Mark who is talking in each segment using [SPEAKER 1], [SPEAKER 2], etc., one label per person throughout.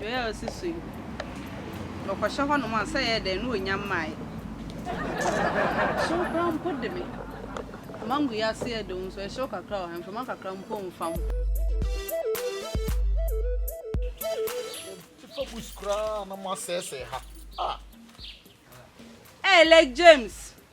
[SPEAKER 1] Yoel si so yi, ɔkɔhyɛ hɔnom a, sɛ ɛyɛ dɛn na ɔnya mmaeɛ. Ɛhyew koraa mpo de me. Mango yi ase yɛ den nso, ɛhyew kakra wɔ ha, mframa kakra mpo mmfa ho. Mopepa bush koraa na moasɛesɛe ha. Ah! Ɛyɛ late James,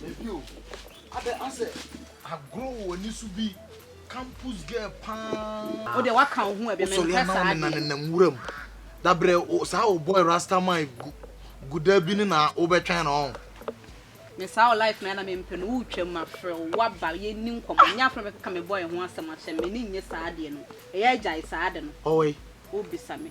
[SPEAKER 1] Na bio, adɛn ara sɛ agorɔ wɔ w'ani so bi, campus girl paa. Wo deɛ waka wo ho abi, mempɛ saa deɛ. Wo sɔre a na wo nena nenam nwura mu. Da brɛ saa wo boy rasta man gu gu da bi no na wo bɛ twɛn no ɔn. Me saa wo life no ara na mempɛ no, wo twam mafrɛ wo, waba, yɛ nni nkɔmmɔ, nyɛ afei na bɛkeka me boy ho asɛm akyɛ me, m'ani nnye saa adeɛ no, ɛyɛ gyae saa ade no, wo bisa me.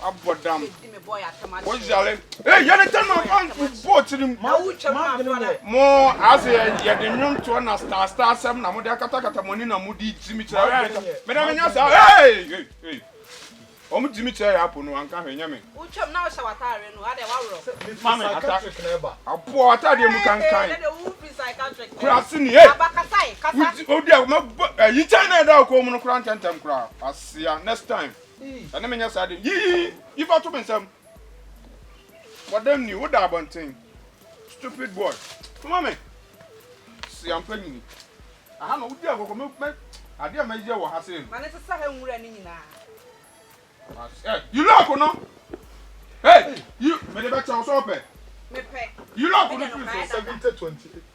[SPEAKER 1] abɔdam woyare ee yɛne tɛ no ɔfa bɔ tirim mo ase yɛde nnwontoɔ na star star sɛm na mode akatakata mo ani na mode gyi me kyerɛ mede menyɛ saa ee wɔn gyi me kyerɛ yɛ apo no anka hwɛ nyɛ me ma me ata aboɔ ataadeɛ mu kankan kura ase ni ee wodi a mɛbɔ ayi kyɛn na ɛda ɔkɔɔ mu no kura ntɛntɛm kura asia next time Ɛne me nyɛ saa de. Yi yi yi fa to me nsam. Wɔ dɛm ni, woda abɔnten. Stupid boy. Soma me. Si ampa nyini. Aha na wodi agɔkɔ me me adeɛ a mɛyɛ wɔ ha sei no. Ma ne sesa ha nwura no nyinaa. Mas eh yi lock no. Hey yi mede bɛkyɛ wo sɛ wopɛ. Mepɛ. Yi lock no firi so. Seventy twenty.